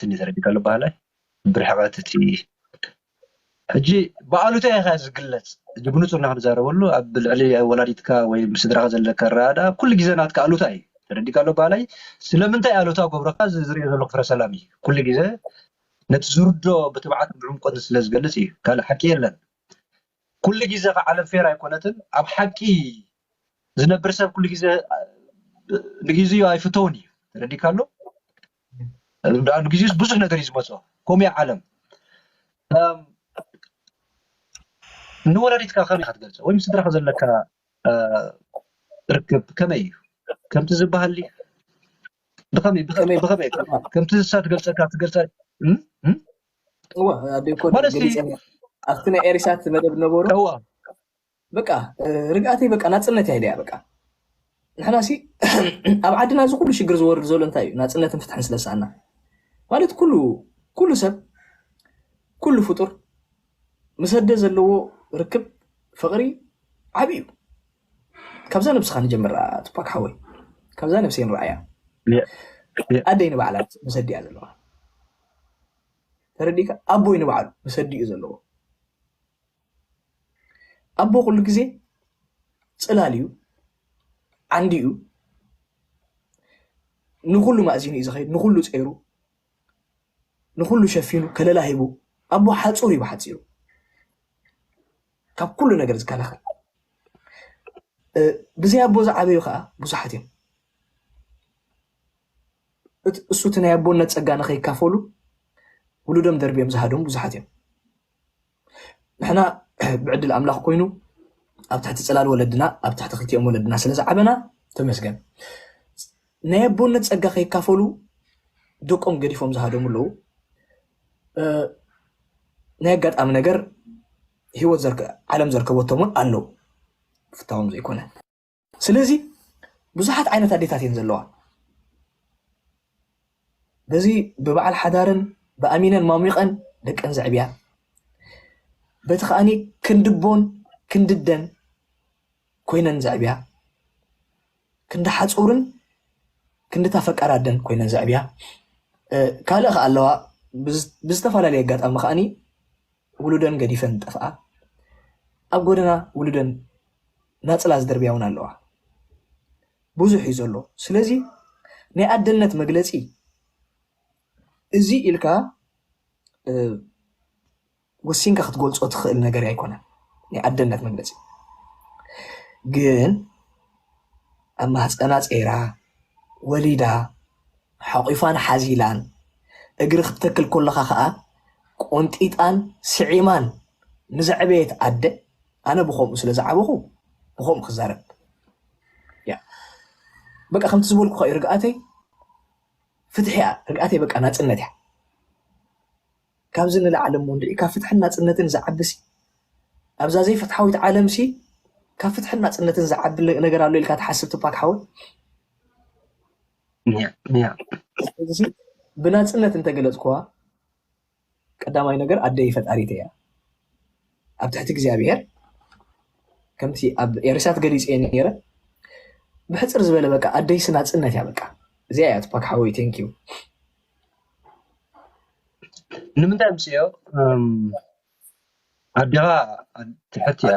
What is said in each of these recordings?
ትንሽ ተረዲካለሁ በሃላይ ብርሕቐት እቲ ሕጂ ብኣሉታ ኢኻ ዝግለጽ እዚ ብንጹር ኢና ክንዛረበሉ ኣብ ልዕሊ ወላዲትካ ወይ ስድራኻ ዘለካ ኣረዳድኣ ኩሉ ግዜ ናትካ ኣሉታ እዩ ተረዲካ ኣሎ በሃላይ ስለምንታይ ኣሉታ ገብረካ ዝሪኦ ዘለኹ ፍረ ሰላም እዩ ኩሉ ግዜ ነቲ ዝርዶ ብትብዓት ብዕምቆት ስለ ዝገልጽ እዩ ካልእ ሓቂ የለን ኩሉ ግዜ ከ ዓለም ፌር ኣይኮነትን ኣብ ሓቂ ዝነብር ሰብ ኩሉ ግዜ ንግዜኡ ኣይፍተውን እዩ ተረዲካ ኣሎ ዳኣሉ ግዜስ ብዙሕ ነገር እዩ ዝመጾ ከምኡ እያ ዓለም ንወለዲትካ ከመይ ኢካ ትገልጾ ወይ ምስ ስድራካ ዘለካ ርክብ ከመይ እዩ ከምቲ ዝበሃል ብከመይ ብከመይ ብከመይ ከምቲ ንሳ ትገልጸካ ትገልጸ ማለት ኣብቲ ናይ ኤሪሳት መደብ ነበሩ በቃ ርግኣተይ በቃ ናጽነት እያ ኢለያ በቃ ንሕናሲ ኣብ ዓድና እዚ ኩሉ ሽግር ዝወርድ ዘሎ እንታይ እዩ ናጽነትን ፍትሕን ስለ ሰኣና ማለት ኩሉ ኩሉ ሰብ ኩሉ ፍጡር ምስ ኣደ ዘለዎ ርክብ ፍቕሪ ዓቢ እዩ ካብዛ ነብስኻ ንጀምራ ቱፓክ ሓወይ ካብዛ ነብሰይ ንረኣያ ኣደይ ንባዕላ ምስ ኣዲኣ ዘለዋ ተረዲእካ ኣቦይ ንባዕሉ ምስ ኣዲኡ ዘለዎ ኣቦ ኩሉ ግዜ ፅላል እዩ ዓንዲ እዩ ንኩሉ ማእዚኑ እዩ ዝኸይድ ንኩሉ ፀይሩ ንኩሉ ሸፊኑ ከለላ ሂቡ ኣቦ ሓፁር እዩ ብሓፂሩ ካብ ኩሉ ነገር ዝከላኸል ብዘይ ኣቦ ዝዓበዩ ከዓ ብዙሓት እዮም እሱ እቲ ናይ ኣቦነት ፀጋ ንከይካፈሉ ውሉዶም ደርቢዮም ዝሃደሙ ብዙሓት እዮም ንሕና ብዕድል ኣምላኽ ኮይኑ ኣብ ትሕቲ ጽላል ወለድና ኣብ ትሕቲ ክልቲኦም ወለድና ስለ ዝዓበና ተመስገን ናይ ኣቦነት ጸጋ ከይካፈሉ ደቆም ገዲፎም ዝሃደሙ ኣለዉ ናይ ኣጋጣሚ ነገር ህይወት ዓለም ዘርከበቶምን ኣለዉ ፍታዎም ዘይኮነ ስለዚ ብዙሓት ዓይነት ኣዴታት እየን ዘለዋ በዚ ብበዓል ሓዳርን ብኣሚነን ማሚቐን ደቀን ዘዕብያ በቲ ከዓኒ ክንድቦን ክንድደን ኮይነን ዘዕብያ ክንዲ ሓፁርን ክንድታ ፈቃር ኣደን ኮይነን ዘዕብያ ካልእ ከ ኣለዋ ብዝተፈላለየ ኣጋጣሚ ከዓኒ ውሉደን ገዲፈን ዝጠፍኣ፣ ኣብ ጎደና ውሉደን ናጽላ ዝድርብያ ውን ኣለዋ። ብዙሕ እዩ ዘሎ። ስለዚ ናይ ኣደነት መግለጺ እዚ ኢልካ ወሲንካ ክትገልጾ ትኽእል ነገር ኣይኮነን። ናይ ኣደነት መግለጺ ግን ኣብ ማህጸና ጸይራ ወሊዳ ሓቝፋን ሓዚላን፣ እግሪ ክትተክል ከሎኻ ከኣ ቆንጢጣን ስዒማን ንዘዕበየት ኣደ፣ ኣነ ብኸምኡ ስለ ዝዓበኹ ብኸምኡ ክዛረብ እያ። በቃ ከምቲ ዝበልኩኻ እዩ፣ ርግኣተይ ፍትሒ እያ፣ ርግኣተይ በቃ ናጽነት እያ። ካብዚ ንላዕሊ እሞ እንድዒ ካብ ፍትሕን ናጽነትን ዝዓብሲ ኣብዛ ዘይፍትሓዊት ዓለምሲ ካብ ፍትሕን ናጽነትን ዝዓቢ ነገር ኣሎ ኢልካ ትሓስብ ትፓክ ሓወይ ብናፅነት እንተገለፅኩዋ ቀዳማይ ነገር ኣደይ ፈጣሪተይ እያ። ኣብ ትሕቲ እግዚኣብሔር ከምቲ ኣብ ኤርሳት ገሊፅ እየ ነረ ብሕፅር ዝበለ በቃ ኣደይሲ ናፅነት እያ በቃ እዚኣ እያ ትፓክ ሓወይ ቴንኪዩ ንምንታይ ምስ እዮ ኣዴኻ ትሕት እያ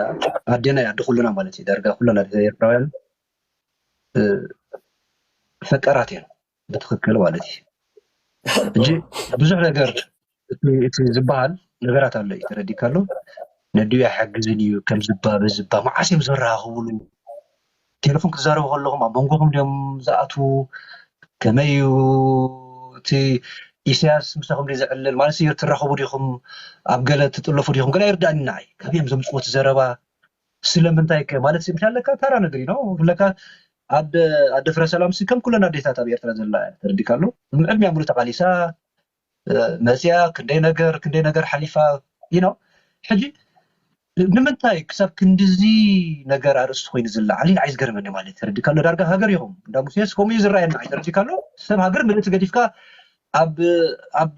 ኣዴና እያ ኣደ ኩሉና ማለት እዩ ዳርጋ ኩሉና ኤርትራውያን ፈቃራት እዮም ብትክክል ማለት እዩ እንጂ ብዙሕ ነገር እቲ ዝበሃል ነገራት ኣሎ እዩ ተረዲካ ኣሎ ነዲኡ ኣይሓግዝን እዩ ከም ዝባ በዝባ መዓስ እዮም ዝራከብሉ ቴለፎን ክዛረቡ ከለኩም ኣብ መንጎኩም ድዮም ዝኣትዉ ከመይ እዩ እቲ ኢሰያስ ምሳኩም ድዩ ዝዕልል ማለት ትራከቡ ዲኩም ኣብ ገለ ትጥለፉ ዲኩም ገለ ኣይርደኣንን ንዓይ ካበይ እዮም ዘምፅዎ እቲ ዘረባ ስለምንታይ ከ ማለት ሲ ምክንያት ለካ ታራ ነገር ነው ለካ ኣደ ኣደ ፍረ ሰላም ሲ ከም ኩለን ኣዴታት ኣብ ኤርትራ ዘላ እያ ተረዲካ ኣሎ ዕድሚያ ሙሉ ተቃሊሳ መፅያ ክንደይ ነገር ክንደይ ነገር ሓሊፋ ነው ሕጂ ንምንታይ ክሳብ ክንድዚ ነገር ኣርእስቲ ኮይኑ ዝለዓል ንዓይ ዝገርመኒ ማለት ተረዲካ ኣሎ ዳርጋ ሃገር ኢኹም እንዳ ሙሴስ ከምኡ እዩ ዝረኣየና ተረዲካ ኣሎ ሰብ ሃገር ምልእቲ ገዲፍካ ኣብ ኣብ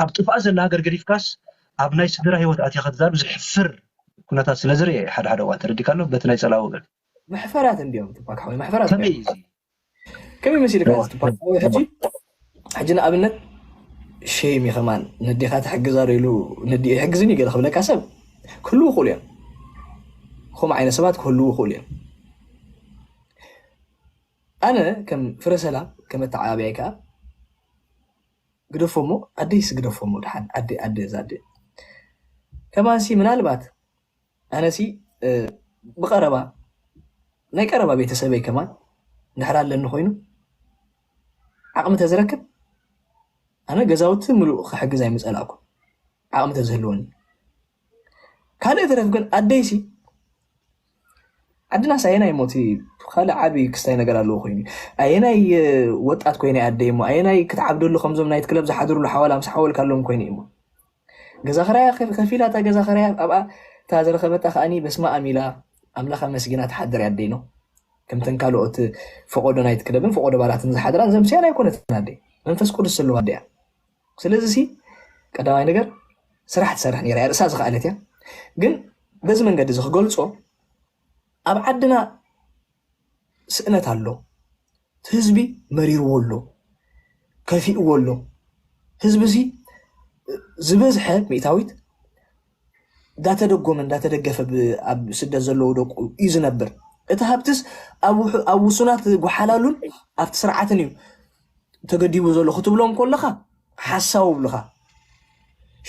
ኣብ ጥፍኣት ዘላ ሃገር ገዲፍካስ ኣብ ናይ ስድራ ሂወት ኣቲካ ክትዛረብ ዘሕፍር ኩነታት ስለ ዝርኤ እየ ሓደ ሓደ እዋን ተረዲካ ኣሎ በቲ ናይ ጸላኢ ወገን መሕፈራት እንድዮም ቱፓክ ሓወይ መሕፈራት ከመይ እዩ እዚ ከመይ መሲልካ እዚ ቱፓክ ሓወይ ሕጂ ሕጂ ንኣብነት ሸይም እዩ ከማን ነዴኻ ትሕግዝ ኣሎ ኢሉ ነዲኡ ይሕግዝን እዩ ገለ ክብለካ ሰብ ክህልው ይኽእሉ እዮም ከምኡ ዓይነት ሰባት ክህልው ይኽእሉ እዮም ኣነ ከም ፍረ ሰላም ከም ኣተዓባብያይ ከዓ ግደፎሞ ኣደይስ ግደፎሞ ድሓን ኣደ ኣደ እዛ ኣደ ከማንሲ ምናልባት ኣነሲ ብቀረባ ናይ ቀረባ ቤተሰበይ ከማን ድሕር ኣለኒ ኮይኑ ዓቅሚ ተዝረክብ ኣነ ገዛውቲ ምሉእ ክሕግዝ ኣይምጸላእኩን ዓቅሚ ተዝህልወኒ ካልእ ይትረፍ ግን ኣደይሲ ዓድናስ ኣየናይ ሞቲ ካልእ ዓቢ ክስታይ ነገር ኣለዎ ኮይኑ ኣየናይ ወጣት ኮይነ ኣደይ እሞ ኣየናይ ክትዓብደሉ ከምዞም ናይት ክለብ ዝሓድርሉ ሓዋላ ምስ ሓወልካ ኣለዎም ኮይኑ እሞ ገዛ ክራያ ከፊላ እታ ገዛ ክራያ ኣብኣ እታ ዝረኸበታ ከዓኒ በስማ ኣሚላ ኣምላኽ ኣመስጊና ትሓድር ኣደይ ነው ከምተን ካልኦት ፈቆዶ ናይት ክለብን ፈቆዶ ባላትን ዝሓድራን ዘምስያን ኣይኮነትን ኣደይ መንፈስ ቅዱስ ዘለዋ ኣደያ ስለዚ ሲ ቀዳማይ ነገር ስራሕ ትሰርሕ ነይራ እያ ርእሳ ዝኸኣለት እያ ግን በዚ መንገዲ እዚ ክገልፆ ኣብ ዓድና ስእነት ኣሎ ህዝቢ መሪርዎ ኣሎ ከፊእዎ ኣሎ ህዝቢ እዚ ዝበዝሐ ሚእታዊት እንዳተደጎመ እንዳተደገፈ ኣብ ስደት ዘለዉ ደቁ እዩ ዝነብር። እቲ ሃብትስ ኣብ ውሱናት ጓሓላሉን ኣብቲ ስርዓትን እዩ ተገዲቡ ዘሎ ክትብሎም ኮለኻ ሓሳዊ ብልኻ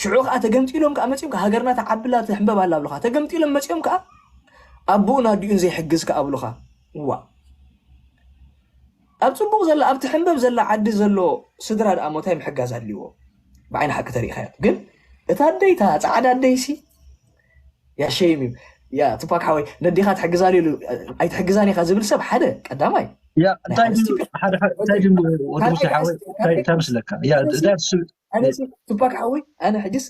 ሽዑ ከዓ ተገምጢሎም ከዓ መፅኦም ከዓ ሃገርና ተዓብላ ትሕንበብ ኣላ ብልኻ ተገምጢሎም መፅኦም ከዓ ኣቦኡን ኣዲኡን ዘይሕግዝ ከዓ ብልኻ ዋ ኣብ ጽቡቕ ዘላ ኣብ ትሕንበብ ዘላ ዓዲ ዘሎ ስድራ ድኣሞ ታይ ምሕጋዝ ኣድልዎ ብዓይኒ ሓቂ ተሪኢኻዮም ግን እታ ኣደይ እታ ጻዕዳ ኣደይ ሲ ያ ሸይም እዩ ያ ትፓክ ሓወይ ነዴኻ ትሕግዛ ኢሉ ኣይትሕግዛን ኢኻ ዝብል ሰብ ሓደ ቀዳማይ ያ እንታይ ድዩ ሓደ እንታይ ድዩ ወዲ ሙሴ ሓወይ እንታይ እንታይ መስለካ ያ እዛ ትፓክ ሓወይ ኣነ ሕጅስ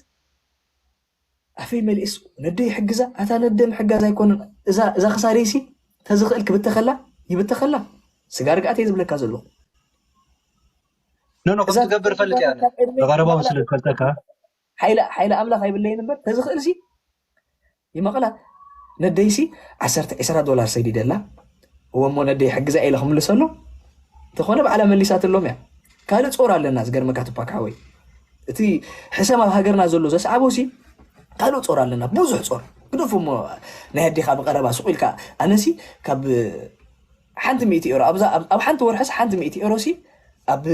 ኣፈይ መሊኤስ ነደይ ይሕግዛ ኣታ ነደ ምሕጋዝ ኣይኮነን እዛ እዛ ክሳደይሲ ተዝኽእል ክብተኸላ ይብተኸላ ስጋ ርግኣት እየ ዝብለካ ዘለኹ ኖኖ ከም ትገብር ፈልጥ እያ ብቀረባ ስለ ዝፈልጠካ ሓይሊ ኣምላኽ ኣይብለይን እምበር ተዝኽእልሲ ይመቐላ ነደይሲ ዓሰርተ ዕስራ ዶላር ሰዲደላ እወ እሞ ነደይ ሕግዛ ኢለ ክምልሰሎ እንተኾነ ባዕላ መሊሳትሎም እያ ካልእ ፆር ኣለና ዝገርመካ ትፓክ ሓወይ እቲ ሕሰም ኣብ ሃገርና ዘሎ ዘስዓቦ ሲ ካልእ ጾር ኣለና ብዙሕ ጾር ግደፉ እሞ ናይ ኣዴኻ ብቀረባ ሱቅ ኢልካ ኣነሲ ካብ ሓንቲ ሚእቲ ኤሮ ኣብዛ ኣብ ሓንቲ ወርሕስ ሓንቲ ሚእቲ ኤሮ ሲ ኣብ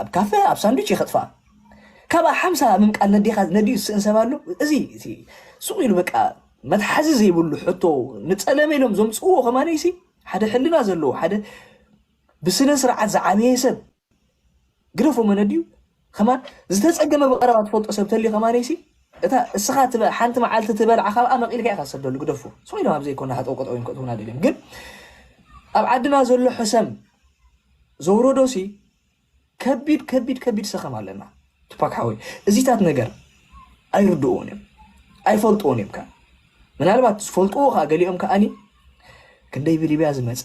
ኣብ ካፈ ኣብ ሳንዱች ይኸጥፋ ካብኣ ሓምሳ ምምቃል ነዴኻ ነድዩ ዝስእን ሰብ ኣሎ እዚ እቲ ሱቅ ኢሉ በቃ መትሓዚ ዘይብሉ ሕቶ ንጸለመ ኢሎም ዘምጽዎ ከማነይሲ ሓደ ሕልና ዘለዎ ሓደ ብስነ ስርዓት ዝዓበየ ሰብ ግደፎ መን ኣዲኡ ከማን ዝተጸገመ ብቀረባ ትፈልጦ ሰብ ተልዩ ከማንይሲ እታ እስኻ ትበ ሓንቲ መዓልቲ ትበልዓ ካብኣ መቂልካ ኢኻ ትሰደሉ ግደፎ ስቕ ኢሎም ኣብ ዘይኮነ ሃጠው ቀጠው እዮም ከእትውና ደልዮም ግን ኣብ ዓድና ዘሎ ሕሰም ዘውረዶሲ ከቢድ ከቢድ ከቢድ ሰኸም ኣለና ትፓክ ሓወይ እዚታት ነገር ኣይርድኡን እዮም ኣይፈልጥዎን እዮም ከ ምናልባት ዝፈልጥዎ ከዓ ገሊኦም ከዓኒ ክንደይ ብሊብያ ዝመፀ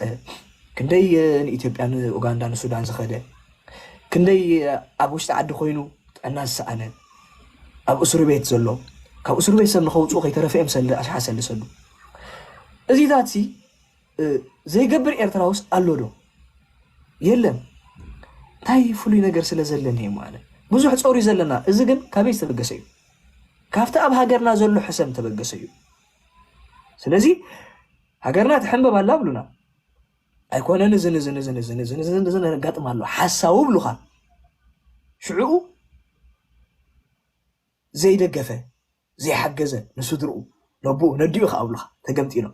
ክንደይ ንኢትዮጵያ ንኡጋንዳ ንሱዳን ዝኸደ ክንደይ ኣብ ውሽጢ ዓዲ ኮይኑ ጥዕና ዝሰኣነ ኣብ እስሩ ቤት ዘሎ ካብ እስሩ ቤት ሰብ ንኸውፅኡ ከይተረፈ እዮም ሰልዲ ኣሽሓት ሰልዲ ሰዱ እዚታት ሲ ዘይገብር ኤርትራውስ ኣሎ ዶ የለን እንታይ ፍሉይ ነገር ስለ ዘለኒ እየ ማለት ብዙሕ ፀሩ ዘለና እዚ ግን ካበይ ዝተበገሰ እዩ ካብቲ ኣብ ሃገርና ዘሎ ሕሰም ተበገሰ እዩ ስለዚ ሃገርና ትሕንበብ ኣላ ብሉና ኣይኮነን እዚ ንዚ ንዚ ንዚ ንዚ ንዚ ንዚ ነጋጥም ኣሎ ሓሳዊ ብሉኻ ሽዕኡ ዘይደገፈ ዘይሓገዘ ንስድርኡ ነብኡ ነዲኡ ከኣብሉኻ ተገምጢሎም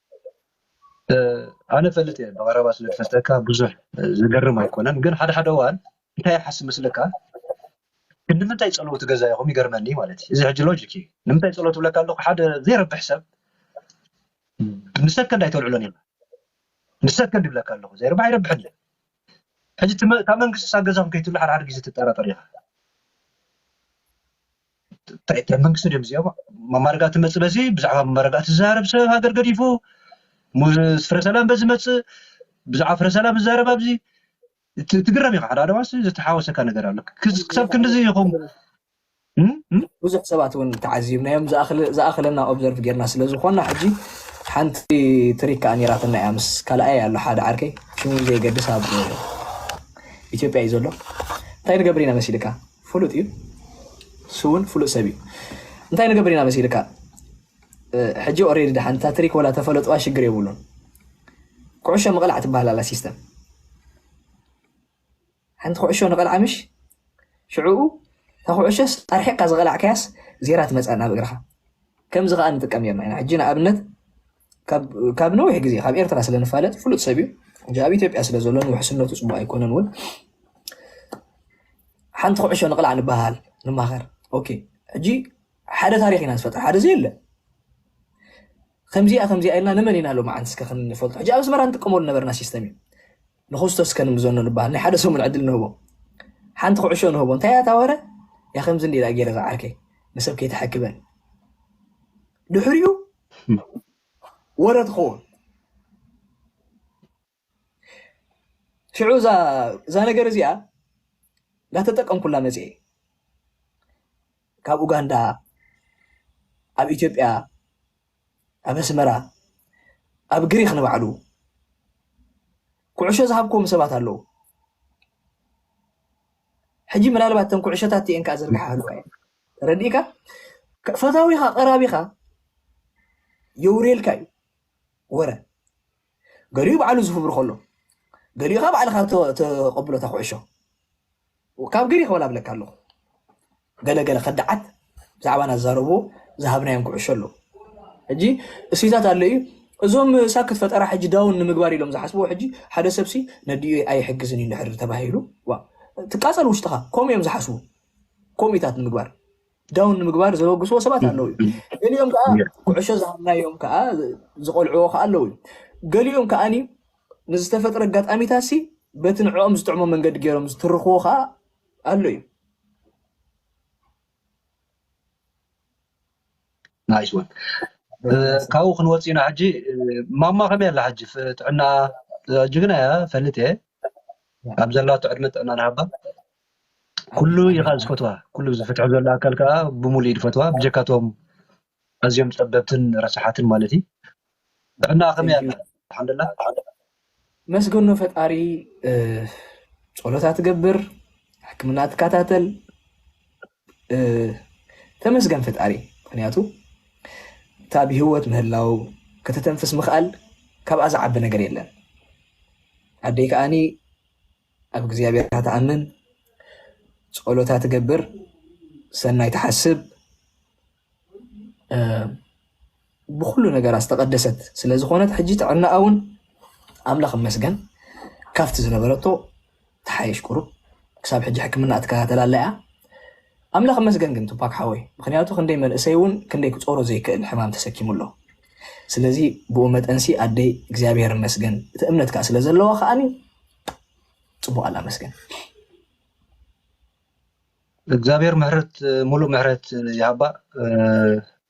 ኣነ እፈልጥ እየ ብቀረባ ስለ ዝፈልጠካ ብዙሕ ዝገርም ኣይኮነን ግን ሓደ ሓደ እዋን እንታይ ይሓስብ መስለካ ክንድምንታይ ፀለውቲ ገዛ ኢኹም ይገርመኒ ማለት እዩ እዚ ሕጂ ሎጂክ እዩ ንምንታይ ፀሎት ብለካ ኣለኩ ሓደ ዘይረብሕ ሰብ ንሰከንድ ኣይተልዕሎን ኢልካ ንሰከንድ ይብለካ ኣለኩ ዘይረብሕ ኣይረብሕን እዩ ሕጂ ካብ መንግስቲ ሳብ ገዛኹም ከይትብሉ ሓደ ሓደ ግዜ ትጠራጠር ኢኻ እንታይ እንታይ መንግስቲ ድዮም እዚኦም መማረጋእቲ መፅእ በዚ ብዛዕባ መማረጋእቲ ዝዛረብ ሰብ ሃገር ገዲፉ ፍረ ሰላም በዚ መፅእ ብዛዕባ ፍረ ሰላም ዝዛረብ ኣብዚ ትግረም ኢኻ ሓደ ኣደዋሲ ዝተሓወሰካ ነገር ኣሎ ክሳብ ክንዲዚ ይኹም ብዙሕ ሰባት እውን ተዓዚብናዮም ዝኣኽለና ኦብዘርቭ ጌርና ስለ ዝኾና ሕጂ ሓንቲ ትሪካ ኣኒራትና እያ ምስ ካልኣይ ኣሎ ሓደ ዓርከይ ሽሙ ዘይገድስ ኣብ ኢትዮጵያ እዩ ዘሎ እንታይ ንገብር ኢና መሲልካ ፍሉጥ እዩ ስውን ፍሉጥ ሰብ እዩ እንታይ ንገብር ኢና መሲልካ ሕጂ ኦሬዲ ድሓን እታ ትሪክ ወላ ተፈለጥዋ ሽግር የብሉን ኩዕሾ ምቕላዕ ትበሃል ኣላ ሲስተም ሓንቲ ኩዕሾ ንቐልዓ ምሽ ሽዕኡ እታ ኩዕሾስ ኣርሒቕካ ዝቐላዕካያስ ዜራ ትመፅእ ናብ እግርኻ ከምዚ ከዓ ንጥቀም ኔርና ኢና ሕጂ ንኣብነት ካብ ነዊሕ ግዜ ካብ ኤርትራ ስለ ንፋለጥ ፍሉጥ ሰብ እዩ ሕጂ ኣብ ኢትዮጵያ ስለ ዘሎ ንውሕስነቱ ፅቡቅ ኣይኮነን እውን ሓንቲ ኩዕሾ ንቕላዕ ንበሃል ንማኸር ኦኬ ሕጂ ሓደ ታሪክ ኢና ዝፈጥር ሓደ ዘየለ ከምዚኣ ከምዚኣ ኢልና ንመን ኢና ሎሚ ዓንቲ እስከ ክንፈልጦ ሕጂ ኣብ ኣስመራ ንጥቀመሉ ነበርና ሲስተም እዩ ንክስቶስ እስከ ንምዘኖ ንበሃል ናይ ሓደ ሰሙን ዕድል ንህቦ ሓንቲ ኩዕሾ ንህቦ እንታይ እያ ታወረ ያ ከምዚ እንዲላ ገይረ ዝዓርከይ ንሰብ ከይተሐክበን ድሕሪኡ ወረ ትኸውን ሽዑ እዛ ነገር እዚኣ እንዳተጠቀምኩላ መፅ ካብ ኡጋንዳ ኣብ ኢትዮጵያ ኣብ ኣስመራ ኣብ ግሪክ ንባዕሉ ኩዕሾ ዝሃብክዎም ሰባት ኣለዉ ሕጂ ምናልባት ተን ኩዕሾታት እቲአን ከዓ ዝርግሓ ኣለዋ ተረዲእካ ፈታዊኻ ቀራቢኻ የውርየልካ እዩ ወረ ገሊኡ ባዕሉ ዝፍብር ከሎ ገሊኡ ካ ባዕልካ ተቐብሎ እታ ኩዕሾ ካብ ገሊ ክበላ ብለካ ኣለኹ ገለገለ ከዳዓት ብዛዕባና ዝዛረብዎ ዝሃብናዮም ኩዕሾ ኣሎ ሕጂ እሴታት ኣሎ እዩ እዞም ሳክት ፈጠራ ሕጂ ዳውን ንምግባር ኢሎም ዝሓስብዎ ሕጂ ሓደ ሰብሲ ነዲኡ ኣይሕግዝን እዩ ንድሕር ተባሂሉ ትቃፀል ውሽጥኻ ከምኡ እዮም ዝሓስቡ ኮሚታት ንምግባር ዳውን ንምግባር ዘበግስዎ ሰባት ኣለዉ እዩ ገሊኦም ከዓ ኩዕሾ ዝሃብናዮም ከዓ ዝቆልዕዎ ከዓ ኣለዉ እዩ ገሊኦም ከዓኒ ንዝተፈጥረ ኣጋጣሚታት ሲ በቲ ንዕኦም ዝጥዕሞ መንገዲ ገይሮም ዝትርኽዎ ከዓ ኣሎ እዩ ናይስ ወን ካብኡ ክንወፅ ኢና ሕጂ ማማ ከመይ ኣላ ሕጂ ጥዕና ሕጂ ግን እያ ፈልጥ እየ ኣብ ዘላቶ ዕድመ ጥዕና ንሃባ ኩሉ ኢኻ ዝፈትዋ ኩሉ እዚ ፍትሒ ዘሎ ኣካል ከኣ ብሙሉእ ኢድ ፈትዋ ብጀካ እቶም ኣዝዮም ጸበብትን ረሳሓትን ማለት እዩ ጥዕናኣ ከመይ ኣላ ኣልሓምዱላ መስገኖ ፈጣሪ ጸሎት ኣትገብር ሕክምና ትከታተል ተመስገን ፈጣሪ ምክንያቱ እታ ብሂወት ምህላው ከተተንፍስ ምክኣል ካብኣ ዝዓቢ ነገር የለን ኣደይ ከኣኒ ኣብ እግዚኣብሔርካ ትኣምን ጸሎታ ትገብር ሰናይ ትሓስብ ብኩሉ ነገራ ዝተቀደሰት ስለዝኮነት ሕጂ ጥዕናኣ እውን ኣምላኽ ይመስገን ካብቲ ዝነበረቶ ተሓየሽ ቁሩብ ክሳብ ሕጂ ሕክምና ትከታተል ኣላ እያ ኣምላኽ ይመስገን ግን ቱፓክ ሓወይ ምክንያቱ ክንደይ መንእሰይ እውን ክንደይ ክጾሮ ዘይክእል ሕማም ተሰኪሙ ኣሎ ስለዚ ብኡ መጠንሲ ኣደይ እግዚኣብሔር ይመስገን እቲ እምነት ከዓ ስለዘለዋ ከዓኒ ፅቡቅ ኣላ መስገን። እግዚኣብሔር ምሕረት ሙሉእ ምሕረት ይሃባ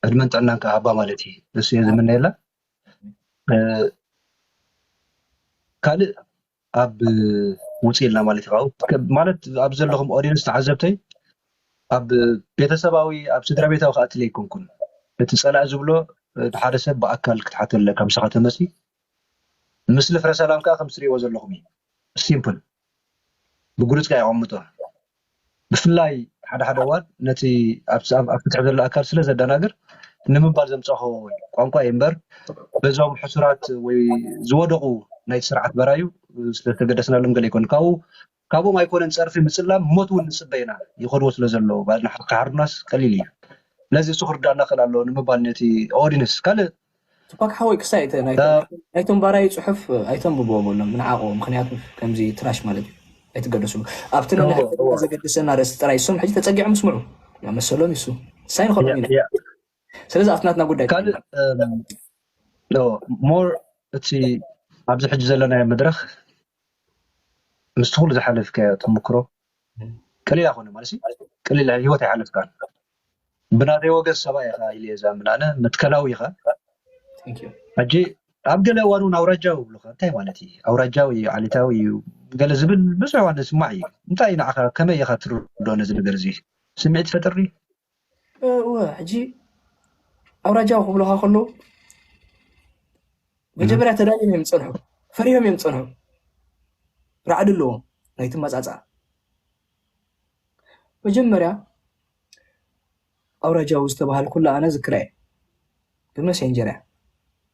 ዕድመን ጥዕናን ከዓ ሃባ ማለት እዩ ንሱ እየ ዝምነየላ ካልእ ኣብ ውፅ ኢልና ማለት እዩ ማለት ኣብ ዘለኹም ኦዲየንስ ተዓዘብተይ ኣብ ቤተሰባዊ ኣብ ስድራ ቤታዊ ከኣትለ ኣይኮንኩን እቲ ፀላእ ዝብሎ ሓደ ሰብ ብኣካል ክትሓተለ ከምስኻ ተመሲ ምስሊ ፍረ ሰላም ከኣ ከምቲ ትሪእዎ ዘለኹም እዩ ሲምፕል ብግሉጽ ከኣ የቀምጦ ብፍላይ ሓደ ሓደ እዋን ነቲ ኣብ ፍትሒ ዘሎ ኣካል ስለ ዘደናግር ንምባል ዘምጻኹ ቋንቋ እዩ እምበር በዞም ሕሱራት ወይ ዝወደቁ ናይቲ ስርዓት በራዩ ስለ ዝተገደስናሎም ገለ ኣይኮነን ካብኡ ካብኦም ኣይኮነን ጸርፊ ምጽላም ሞት ውን ንጽበ ኢና ይኸድዎ ስለ ዘለዉ ባዕልና ክሓርዱናስ ቀሊል እዩ ስለዚ እሱ ክርዳኣና ክኽእል ኣለዎ ንምባል ነቲ ኦዲንስ ካልእ ቱፓክ ሓወይ ክሳይ እቲ ናይቶም ባራዩ ጽሑፍ ኣይተንብብዎ በሎም ንዓቅዎ ምኽንያቱ ከምዚ ትራሽ ማለት እዩ ኣይትገደስሉ ኣብቲ ንንሕብትና ዘገድሰና ኣርእስቲ ጥራይ እሶም ሕጂ ተጸጊዖም ይስምዑ መሰሎም እዩ እሱ ክሳይ ንኸድኦም ኢና። ስለዚ ኣብቲ ናትና ጉዳይ ካልእ ሞር እቲ ኣብዚ ሕጂ ዘለናዮ መድረኽ ምስቲ ኩሉ ዝሓለፍካዮ ተምክሮ ቀሊል ኣይኮነ ማለት ቀሊል ህይወት ኣይሓለፍካን ብናተይ ወገን ሰብኣይ ኢኻ ኢለ ዛምን ኣነ መትከላዊ ኢኻ ሕጂ ኣብ ገለ እዋን እውን ኣውራጃዊ ይብሉካ እንታይ ማለት እዩ ኣውራጃዊ እዩ ዓሌታዊ እዩ ገለ ዝብል ብዙሕ እዋን ዝስማዕ እዩ እንታይ እዩ ንዓኻ ከመይ ኢኻ ትርዶ ነዚ ነገር እዚ ስምዒት ፈጥሪ እወ ሕጂ ኣውራጃዊ ክብሉኻ ከለዉ መጀመርያ ተዳልዮም እዮም ዝፀንሑ ፈሪሆም እዮም ዝፀንሑ ራዕዲ ኣለዎም ናይቲ መፃፅኣ መጀመርያ ኣውራጃዊ ዝተባሃልኩላ ኣነ ዝክራ እየ ብመሴንጀር እያ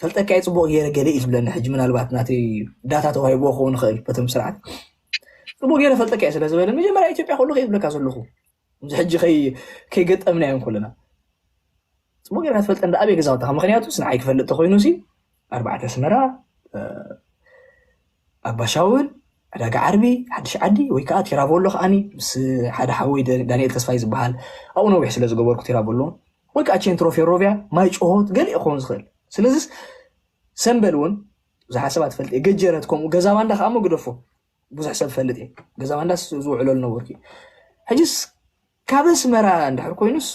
ፈልጠካ እየ ፅቡቅ ገይረ ገለ እዩ ዝብለኒ ሕጂ ምናልባት ናተይ ዳታ ተዋሂብዎ ክኸውን ይኽእል በቶም ስርዓት ፅቡቅ ገይረ ፈልጠካ እየ ስለዝበለ መጀመርያ ኢትዮጵያ ከለኹ እየ ዝብለካ ዘለኹ እዚ ሕጂ ከይገጠምናዮም ከለና ፅቡቅ ገይርካ ትፈልጠኒ ኣበይ ገዛውትኻ ምክንያቱ ንዓይ ክፈልጥ ተኮይኑ ሲ ኣርባዕተ ኣስመራ ኣባሻውል ዕዳጋ ዓርቢ ሓድሽ ዓዲ ወይ ከዓ ቴራቮሎ ከዓኒ ምስ ሓደ ሓወይ ዳንኤል ተስፋይ ዝበሃል ኣብኡ ነዊሕ ስለ ዝገበርኩ ቴራቮሎ ወይ ከዓ ቼንትሮ ፌሮቪያ ማይ ጭሆት ገሊእ ክኸውን ዝኽእል ስለዚስ ሰንበል እውን ብዙሓት ሰባት ፈልጥ እየ ገጀረት ከምኡ ገዛ ባንዳ ከዓ እሞ ግደፎ ብዙሕ ሰብ ፈልጥ እየ ገዛ ባንዳ ዝውዕሎ ዝነበርኩ እዩ ሕጅስ ካብ ኣስመራ እንድሕር ኮይኑስ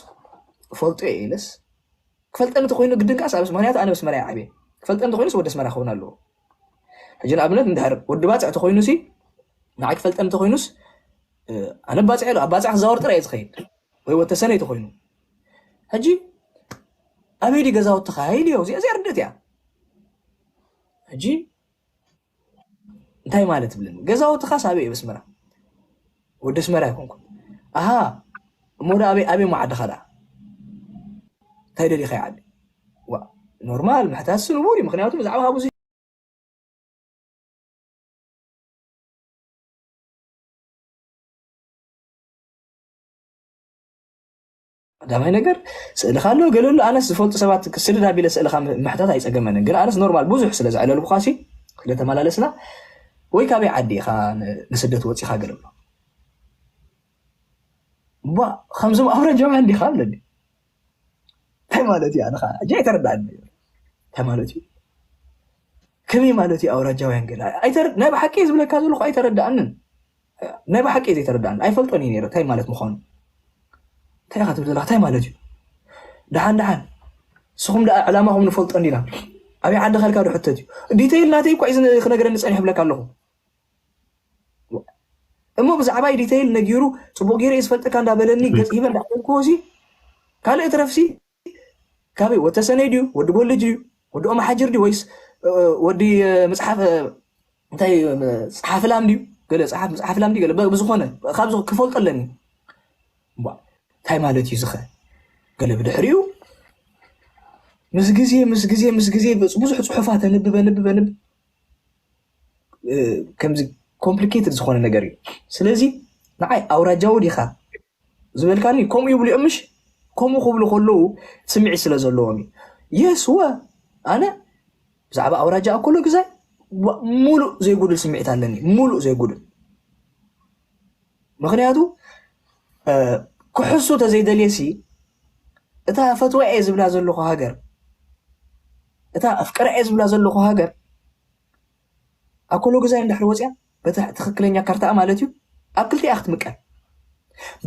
ፈልጦ እየ ኢለስ ክፈልጠ እንተኮይኑ ግድን ከዓ ሳብስ ምክንያቱ ኣነ ኣስመራ እየ ዓብየ ክፈልጠ እንተኮይኑስ ወደ ኣስመራ ክኸውን ኣለዎ ሕጂ ንኣብነት እንድሕር ወዲ ባፅዕ ተኮይኑ ሲ ንዓይ ክፈልጠ እንተኮይኑስ ኣነ ባፅዕ ኣሎ ኣብ ባፅዕ ክዛወር ጥራይ እየ ዝኸይድ ወይ ወተሰነይ ተኮይኑ ሕጂ ኣበይ ድዩ ገዛውትኻ ኢሉ እዮ እዚኣ እዚኣ ርድእት እያ ሕጂ እንታይ ማለት ብለኒ ገዛውትኻስ ኣበይ እዩ ኣስመራ ወዲ ኣስመራ ይኮንኩ ኣሃ እሞ ዳ ኣበይ ኣበይ ሞ ዓድኻ ዳ እንታይ ደሊኻ ይዓዲ ኖርማል ምሕታትሲ ንቡር እዩ ምክንያቱ ብዛዕባ ሃቡ ቀዳማይ ነገር ስእልካ ኣሎ ገለ ኣሎ ኣነስ ዝፈልጡ ሰባት ክስድድ ኣቢለ ስእልካ ምሕታት ኣይፀገመንን ግን ኣነስ ኖርማል ብዙሕ ስለ ዘዕለልኩካ ሲ ስለተመላለስና ወይ ካበይ ዓዲ ኢኻ ንስደት ወፂኻ ገለ ኣሎ እባ ከምዞም ኣውረጃውያ እንዲኻ ኣለኒ እንታይ ማለት እዩ ኣነኻ እጂ ኣይተረዳእኒ እንታይ ማለት እዩ ከመይ ማለት እዩ ኣውራጃውያን ገለ ናይ ብሓቂ ዝብለካ ዘለኹ ኣይተረዳእንን ናይ ብሓቂ ዘይተረዳኣኒ ኣይፈልጦን እዩ ነይረ ታይ ማለት ምኳኑ ታይ ኢካ ትብል ዘለካ ታይ ማለት እዩ ድሓን ድሓን ንስኹም ደኣ ዕላማኹም ንፈልጦ እንዲና ኣብይ ዓዲ ከልካ ዶ ሕተት እዩ ዲተይል ናተይ እኳ እዩ ክነገረኒ ፀኒሑ ብለካ ኣለኹ እሞ ብዛዕባይ ዲተይል ነጊሩ ፅቡቅ ገይረ ዝፈልጠካ እንዳበለኒ ገፅ ሂበ እንዳበልክዎ ካልእ ትረፍሲ ካበይ ወድ ተሰነይ ድዩ ወዲ ጎልጅ ድዩ ወዲ ኦማሓጅር ድዩ ወይስ ወዲ መጽሓፍ እንታይ ጸሓፊ ላም ድዩ ገለ ጸሓፍ መጽሓፍ ላም ድዩ ገለ ብዝኾነ ካብዚ ክፈልጦ ኣለኒ እንታይ ማለት እዩ ዝኸ ገለ ብድሕሪኡ ምስ ግዜ ምስ ግዜ ምስ ግዜ ብዙሕ ጽሑፋት ኣንብብ ኣንብብ ኣንብብ ከምዚ ኮምፕሊኬትድ ዝኾነ ነገር እዩ ስለዚ ንዓይ ኣውራጃዊ ዲኻ ዝበልካኒ ከምኡ ይብሉ እዮም ምሽ ከምኡ ክብሉ ከለዉ ስምዒት ስለ ዘለዎም እዩ የስወ ኣነ ብዛዕባ ኣውራጃ ኣኮሎ ግዛይ ሙሉእ ዘይጉድል ስምዒት ኣለኒ ሙሉእ ዘይጉድል ምክንያቱ ክሕሱ ተዘይደልየሲ እታ ፈትዋ እየ ዝብላ ዘለኹ ሃገር እታ ኣፍቀራ እየ ዝብላ ዘለኹ ሃገር ኣብ ኮሎ ገዛይ እንድሕር ወፂኣ በቲ ትኽክለኛ ካርታኣ ማለት እዩ ኣብ ክልቲኣ ክትምቀል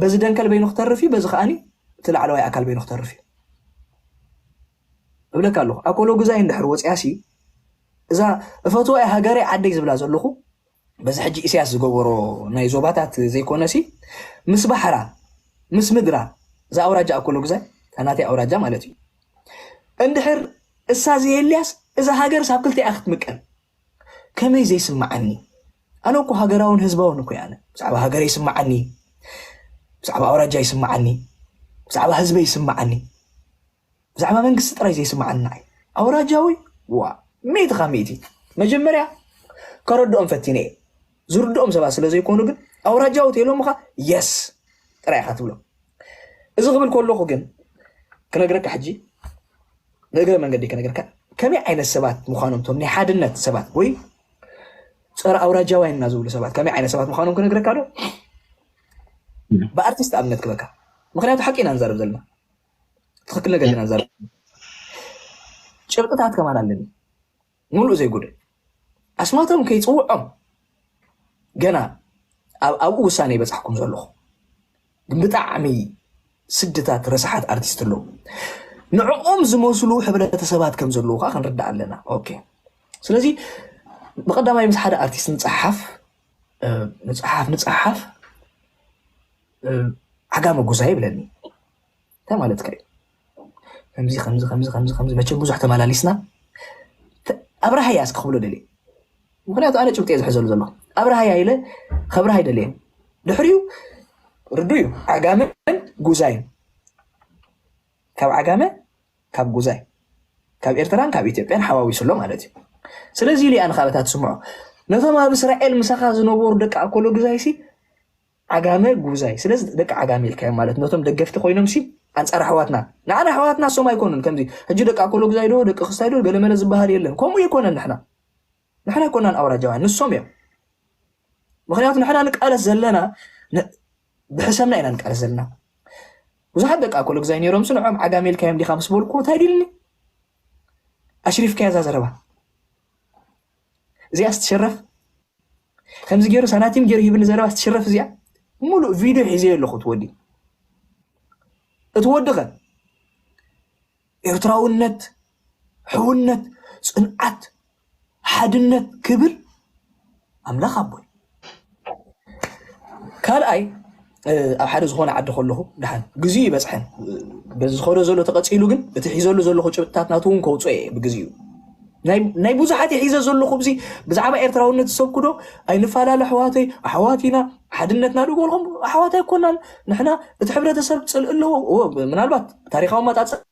በዚ ደንከል በይኑ ክተርፍ እዩ በዚ ከዓኒ እቲ ላዕለዋይ ኣካል በይኑ ክተርፍ እዩ እብለካ ኣለኹ ኣብ ኮሎ ገዛይ እንድሕር ወፂኣ ሲ እዛ እፈትዋ እያ ሃገረይ ዓደይ ዝብላ ዘለኹ በዚ ሕጂ ኢሳያስ ዝገበሮ ናይ ዞባታት ዘይኮነሲ ምስ ባሕራ ምስ ምድራ እዛ ኣውራጃ ኣብ ኮሎ ግዛይ ናተይ ኣውራጃ ማለት እዩ እንድሕር እሳ ዘየልያስ እዛ ሃገርስ ኣብ ክልቲኣ ክትምቀል ከመይ ዘይስምዓኒ ኣነ እኮ ሃገራውን ህዝባውን እኮ ኣነ ብዛዕባ ሃገረ ይስምዓኒ ብዛዕባ ኣውራጃ ይስምዓኒ ብዛዕባ ህዝበ ይስምዓኒ ብዛዕባ መንግስቲ ጥራይ ዘይስምዓኒ ንዓይ ኣውራጃዊ ዋ ሚእቲ ካብ ሚእቲ መጀመርያ ከረድኦም ፈቲነ እየ ዝርድኦም ሰባት ስለ ዘይኮኑ ግን ኣውራጃዊ ተይሎምኻ የስ ጥራይ ኢኻ ትብሎ እዚ ክብል ከለኹ ግን ክነግረካ ሕጂ ንእግረ መንገዲ ክነግረካ ከመይ ዓይነት ሰባት ምዃኖም ቶም ናይ ሓድነት ሰባት ወይ ፀረ ኣውራጃውያን እና ዝብሉ ሰባት ከመይ ዓይነት ሰባት ምዃኖም ክነግረካ ዶ ብኣርቲስት ኣብነት ክበካ ምክንያቱ ሓቂ ኢና ንዛረብ ዘለና ትክክል ነገር ኢና ንዛረብ ጭብጥታት ከማን ኣለኒ ሙሉእ ዘይጉደል ኣስማቶም ከይፅውዖም ገና ኣብኡ ውሳነ ይበፃሕኩም ዘለኹ ግን ብጣዕሚ ስድታት ረሳሓት ኣርቲስት ኣለዉ ንዕኦም ዝመስሉ ሕብረተሰባት ከም ዘለዉ ከዓ ክንርዳእ ኣለና ኦኬ ስለዚ ብቀዳማይ ምስ ሓደ ኣርቲስት ንፀሓፍ ንፀሓፍ ንፀሓፍ ዓጋመ ጉዛ ይብለኒ እንታይ ማለትካ እዩ ከምዚ ከምዚ ከምዚ ከምዚ ከምዚ መቸም ብዙሕ ተመላሊስና ኣብርሃያ እስኪ ክብሎ ደልየ ምክንያቱ ኣነ ጭብጢ እየ ዝሕዘሉ ዘሎ ኣብርሃያ ኢለ ከብርሃ ይደልየ ድሕሪኡ ርዱ እዩ ዓጋመን ጉዛይን ካብ ዓጋመ ካብ ጉዛይ ካብ ኤርትራን ካብ ኢትዮጵያን ሓዋዊሱ ኣሎ ማለት እዩ ስለዚ ኢሉ እያ ንካበታ ትስምዖ ነቶም ኣብ እስራኤል ምሳኻ ዝነበሩ ደቂ ኣኮሎ ግዛይሲ ዓጋመ ጉዛይ ስለዚ ደቂ ዓጋመ ኢልካዮም ማለት ነቶም ደገፍቲ ኮይኖም ሲ ኣንጻር ኣሕዋትና ንዓና ኣሕዋትና ሶም ኣይኮኑን ከምዚ ሕጂ ደቂ ኣኮሎ ጉዛይ ዶ ደቂ ክስታይ ዶ ገለመለ ዝበሃል የለን ከምኡ ኣይኮነን ንሕና ንሕና ኣይኮናን ኣውራጃውያን ንሶም እዮም ምክንያቱ ንሕና ንቃለስ ዘለና ብሕሰምና ኢና ንቃለስ ዘለና ብዙሓት ደቂ ኣኮሎ ጉዛይ ነይሮም ሲ ንዖም ዓጋመ ኢልካዮም ዲካ ምስ በልኩ እንታይ ዲልኒ ኣሽሪፍካያ እዛ ዘረባ እዚኣስ ትሽረፍ ከምዚ ገይሩ ሳናቲም ገይሩ ሂብኒ ዘረባስ ትሽረፍ እዚኣ ሙሉእ ቪድዮ ሒዘዮ ኣለኹ እቲ ወዲ እቲ ወዲ ኸ ኤርትራውነት ሕውነት ፅንዓት ሓድነት ክብል ኣምላኽ ኣቦይ ካልኣይ ኣብ ሓደ ዝኾነ ዓዲ ከለኹ ድሓን ግዜኡ ይበፅሐን በዚ ዝኸዶ ዘሎ ተቐፂሉ ግን እቲ ሒዘሉ ዘለኹ ጭብጥታት ናቱ እውን ከውፅኦ እየ ብግዜኡ ናይ ብዙሓት የሒዘ ዘለኹ ብዚ ብዛዕባ ኤርትራውነት ዝሰብኩ ዶ ኣይንፈላለ ኣሕዋተይ ኣሕዋት ኢና ሓድነትና ዶ በልኹም ኣሕዋት ኣይኮናን ንሕና እቲ ሕብረተሰብ ፅልእ ኣለዎ ምናልባት ታሪካዊ መጣፀ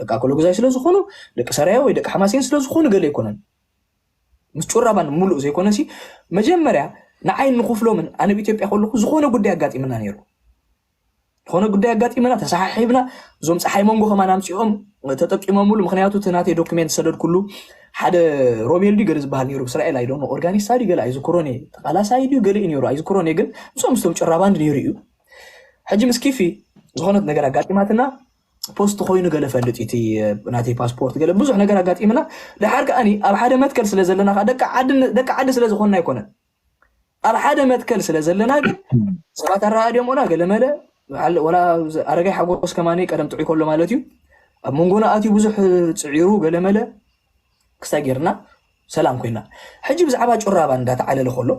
ደቂ ኣኮሎጉዛይ ስለ ዝኾኑ ደቂ ሰራየ ወይ ደቂ ሓማሴን ስለ ዝኾኑ ገለ ኣይኮነን ምስ ጩራባን ሙሉእ ዘይኮነ ሲ መጀመርያ ንዓይ ንክፍሎምን ኣነ ብ ኢትዮጵያ ከለኹ ዝኾነ ጉዳይ ኣጋጢምና ነይሩ ዝኾነ ጉዳይ ኣጋጢምና ተሰሓሒብና እዞም ፀሓይ መንጎ ከማን ኣምፂኦም ተጠቂሞምሉ ምክንያቱ እቲ ናተይ ዶክሜንት ሰደድኩሉ ሓደ ሮቤል ድዩ ገለ ዝበሃል ነይሩ ብእስራኤል ኣይዶ ኦርጋኒስታ ድዩ ገለ ኣይዝክሮን እየ ተቃላሳይ ድዩ ገለ እዩ ነይሩ ኣይዝክሮን እየ ግን ምስኦም ምስቶም ጭራባንድ ነይሩ እዩ ሕጂ ምስ ኪፊ ዝኾነት ነገር ኣጋጢማትና ፖስት ኮይኑ ገለ ፈልጥ እቲ ናተይ ፓስፖርት ገለ ብዙሕ ነገር ኣጋጢምና ድሓር ከዓ ኣብ ሓደ መትከል ስለ ዘለና ከዓ ደቂ ዓዲ ስለ ዝኾንና ኣይኮነን ኣብ ሓደ መትከል ስለ ዘለና ግን ሰባት ኣረኣድዮምና ገለመለ ወላ ኣረጋይ ሓጎስ ከማኒ ቀደም ጥዑይ ከሎ ማለት እዩ ኣብ መንጎና ኣትዩ ብዙሕ ፅዒሩ ገለመለ ክስታይ ጌርና ሰላም ኮይና ሕጂ ብዛዕባ ጩራባ እንዳተዓለለ ከሎ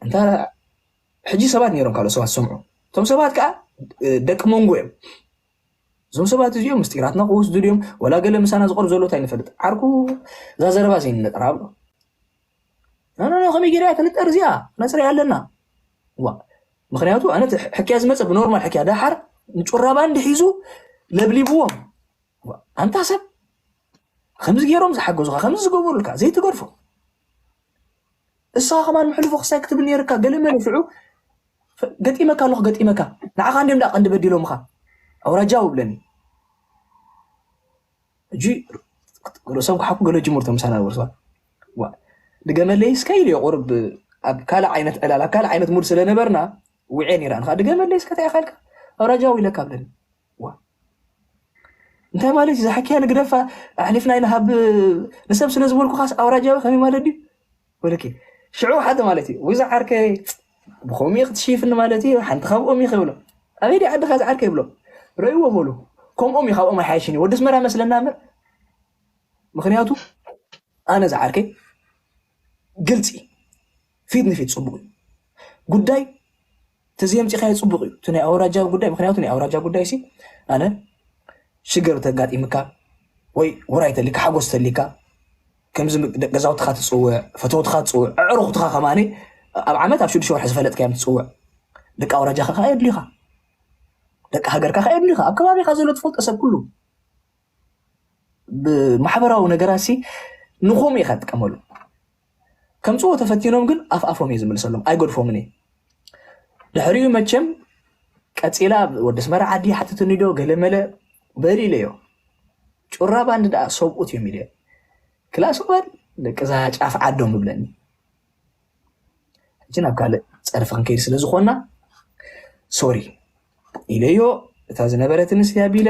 እንታ ሕጂ ሰባት ነይሮም ካልኦት ሰባት ዝሰምዑ እቶም ሰባት ከዓ ደቂ መንጎ እዮም እዞም ሰባት እዚኦም ምስጢራትና ክወስዱ ድዮም ወላ ገለ ምሳና ዝቐርብ ዘሎ እንታይ ንፈልጥ ዓርኩ እዛ ዘረባ ዘይንነጠራ ብሎ ናናና ከመይ ጌርያ ክንጠር እዚኣ ነፅርያ ኣለና ዋ ምክንያቱ ኣነ ሕክያ ዝመፀ ብኖርማል ሕክያ ዳሓር ንጩራ ባንድ ሒዙ ለብሊብዎም ኣንታ ሰብ ከምዚ ገይሮም ዝሓገዙካ ከምዚ ዝገበሩልካ ዘይትገድፎ ንስኻ ከማን ምሕልፎ ክሳይ ክትብል ነይርካ ገለመለ ሽዑ ገጢመካ ኣለኹ ገጢመካ ንዓኻ እንዲም ደኣ ቀንዲ በዲሎምኻ ኣውራጃው ብለኒ እጂ ርእሶም ክሓኩ ገለ ጅምርቶ ምሳና ወርሰዋ ድገመለይ እስከ ኢሉ ቁርብ ኣብ ካልእ ዓይነት ዕላል ኣብ ካልእ ዓይነት ሙድ ስለነበርና ውዕየ ነይረ ኣንኻ ድገመለይ እስከ እንታይ ኢኻ ኢልካ ኣውራጃው ኢለካ ብለኒ እንታይ ማለት እዩ ዛሕኪያ ንግደፋ ኣሕሊፍና ይንሃብ ንሰብ ስለ ዝበልኩኻስ ኣውራጃዊ ከመይ ማለት ድዩ ወለኪ ሽዑ ሓደ ማለት እዩ ወይ ዝዓርከይ ብከምኡ ክትሽይፍኒ ማለት እዩ ሓንቲ ካብኦም እዩ ክብሎ ኣበይ ዲ ዓድኻ ዝዓርከ ይብሎ ረእይዎ በሉ ከምኦም እዩ ካብኦም ኣይሓይሽን እዩ ወዲ ኣስመራ መስለና እምበር ምክንያቱ ኣነ ዝዓርከይ ግልፂ ፊት ንፊት ፅቡቅ እዩ ጉዳይ እቲ ዘምፂኻዮ ፅቡቅ እዩ እቲ ናይ ኣውራጃዊ ጉዳይ ምክንያቱ ናይ ኣውራጃ ጉዳይ ሲ ኣነ ሽግር ተጋጢምካ ወይ ውራይ ተሊካ ሓጎስ ተሊካ ከምዚ ገዛውትኻ ትፅውዕ ፈተውትኻ ትፅውዕ ኣዕሩኽትኻ ከማኒ ኣብ ዓመት ኣብ ሽዱሽተ ወርሒ ዝፈለጥካዮም ትፅውዕ ደቂ ኣውራጃኻ ከዓ የድልዩኻ ደቂ ሃገርካ ከዓ የድልዩኻ ኣብ ከባቢኻ ዘሎ ትፈልጦ ሰብ ኩሉ ብማሕበራዊ ነገራት ሲ ንኹም ኢኻ ትጥቀመሉ ከምጽዎ ተፈቲኖም ግን ኣፍ ኣፎም እየ ዝምልሰሎም ኣይገድፎምን እየ ድሕሪኡ መቸም ቀጺላ ወዲ ኣስመራ ዓዲ ሓትትኒ ዶ ገለመለ በል ኢለዮ ጩራ ባንድ ደኣ ሰብኡት እዮም ኢለ ክላስ ባል ደቂ እዛ ጫፍ ዓዶም ይብለኒ ሕጂ ናብ ካልእ ፀርፊ ክንከይድ ስለ ዝኾንና ሶሪ ኢለዮ እታ ዝነበረት ምስሊ ኣቢለ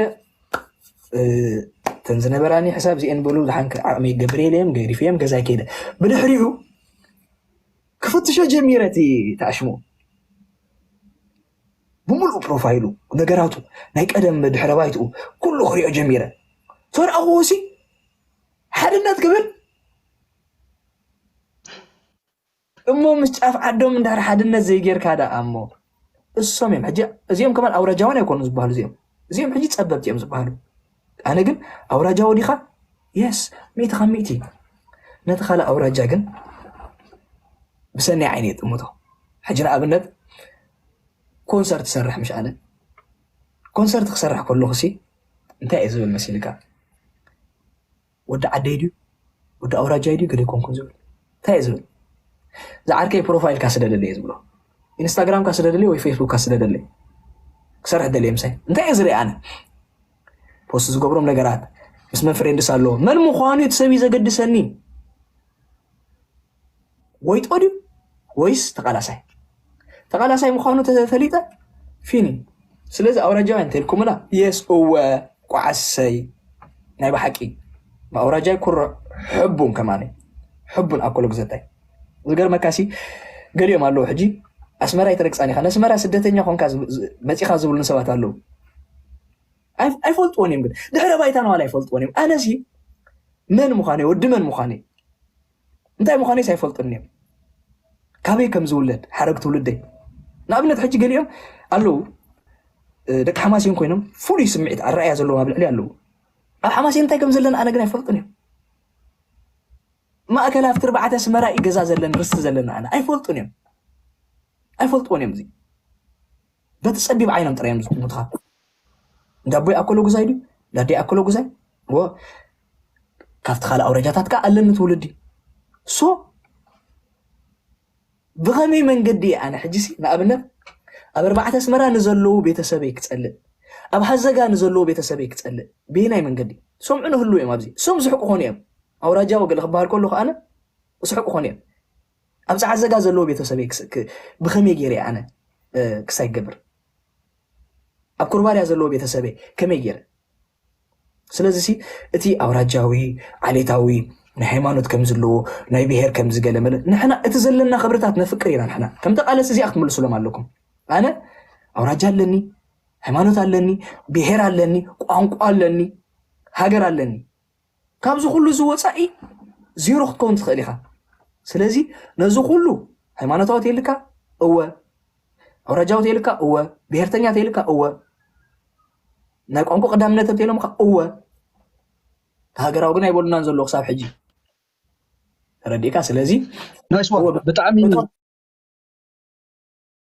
እተን ዝነበራኒ ሕሳብ እዚአን በሉ ዝሓንከ ዓቕሚ ገብር የለዮም ገዲፍ እዮም ገዛ ከይደ ብድሕሪኡ ክፍትሾ ጀሚረ እቲ ተኣሽሙ ብምሉእ ፕሮፋይሉ ነገራቱ ናይ ቀደም ድሕረ ባይትኡ ኩሉ ክሪኦ ጀሚረ ተረኣኽዎ ሲ ሓድነት ክብል እሞ ምስ ጫፍ ዓዶም እንድሕር ሓድነት ዘይጌርካ ደኣ እሞ እሶም እዮም ሕጂ እዚኦም ከማን ኣውራጃውያን ኣይኮኑን ዝበሃሉ እዚኦም እዚኦም ሕጂ ጸበብቲ እዮም ዝበሃሉ ኣነ ግን ኣውራጃዊ ዲኻ የስ ሚእቲ ካብ ሚእቲ ነቲ ካልእ ኣውራጃ ግን ብሰናይ ዓይኒ የጥምቶ ሕጂ ንኣብነት ኮንሰርት ሰርሕ ምሽ ኣለ ኮንሰርት ክሰርሕ ከለኹ ሲ እንታይ እዩ ዝብል መሲልካ ወዲ ዓደይ ድዩ ወዲ ኣውራጃይ ድዩ ገለ ኣይኮንኩን ዝብል እንታይ እየ ዝብል ዝዓርከይ ፕሮፋይልካ ስደደለየ ዝብሎ ኢንስታግራምካ ስደደለየ ወይ ፌስቡክካ ስደደለየ ክሰርሕ ደለየ ምሳይ እንታይ እየ ዝርኢ ኣነ ፖስት ዝገብሮም ነገራት ምስ መን ፍሬንድስ ኣለዎ መን ምዃኑ እቲ ሰብ እዩ ዘገድሰኒ ወይጦ ድዩ ወይስ ተቃላሳይ ተቃላሳይ ምዃኑ ተፈሊጠ ፊኒ ስለዚ ኣውራጃውያን እንተልኩምላ የስ እወ ቋዓሰይ ናይ ብሓቂ ኣውራጃይ ኩርዕ ሕቡን ከማኒ ሕቡን ኣኮሎ ግዘታይ ዝገርመካሲ ገሊኦም ኣለዉ ሕጂ ኣስመራ ይተረግፃን ኢኻ ነስመራ ስደተኛ ኮንካ መፂኻ ዝብሉ ሰባት ኣለዉ ኣይፈልጥዎን እዮም ግን ድሕረ ባይታ ነዋላ ኣይፈልጥዎን እዮም ኣነሲ መን ምዃነ ወዲ መን ምዃነ እንታይ ምዃነይስ ኣይፈልጡን እዮም ካበይ ከም ዝውለድ ሓረግ ትውልደይ ንኣብነት ሕጂ ገሊኦም ኣለዉ ደቂ ሓማሴን ኮይኖም ፍሉይ ስምዒት ኣረኣያ ዘለዎም ኣብ ልዕሊ ኣለዉ ኣብ ሓማሴን እንታይ ከም ዘለና ኣነ ግን ኣይፈልጡን እዮም ማእከል ኣብቲ ርባዕተ ኣስመራ እዩ ገዛ ዘለኒ ርስቲ ዘለና ኣነ ኣይፈልጡን እዮም ኣይፈልጥዎን እዮም እዚ በቲ ፀቢብ ዓይኖም ጥራዮም ዝጥምቱኻ እንዳቦይ ኣኮሎ ጉዛይ ድዩ እንዳደይ ኣኮሎ ጉዛይ ወ ካብቲ ካልእ ኣውረጃታት ከዓ ኣለኒ ትውልዲ ሶ ብኸመይ መንገዲ እየ ኣነ ሕጂሲ ንኣብነት ኣብ ኣርባዕተ ኣስመራ ንዘለዉ ቤተሰበይ ክፀልእ ኣብ ሃዘጋ ንዘለዉ ቤተሰበይ ክፀልእ ብየናይ መንገዲ ሰምዑ ንህሉ እዮም ኣብዚ እሶም ዝሕቁ ኮኑ እዮም ኣውራጃዊ ገለ ክበሃል ከሉ ከኣነ ዝሕቁ ኮኑ እዮም ኣብ ፀዓዘጋ ዘለዎ ቤተሰበይ ብኸመይ ገይረ ኣነ ክሳይ ገብር ኣብ ኩርባርያ ዘለዎ ቤተሰበይ ከመይ ጌረ ስለዚ ሲ እቲ ኣውራጃዊ ዓሌታዊ ናይ ሃይማኖት ከም ዘለዎ ናይ ብሄር ከምዚ ገለ መለ ንሕና እቲ ዘለና ክብርታት ነፍቅር ኢና ንሕና ከም ተቃለሲ እዚኣ ክትምልሱሎም ኣለኩም ኣነ ኣውራጃ ኣለኒ ሃይማኖት ኣለኒ ብሄር ኣለኒ ቋንቋ ኣለኒ ሃገር ኣለኒ ካብዚ ኩሉ እዚ ወፃኢ ዜሮ ክትከውን ትኽእል ኢኻ ስለዚ ነዚ ኩሉ ሃይማኖታዊ ተይልካ እወ ኣውራጃዊ ተይልካ እወ ብሄርተኛ ተይልካ እወ ናይ ቋንቋ ቀዳምነት እንተኢሎምካ እወ ሃገራዊ ግን ኣይበሉናን ዘለዎ ክሳብ ሕጂ ተረዲእካ ስለዚ ብጣዕሚ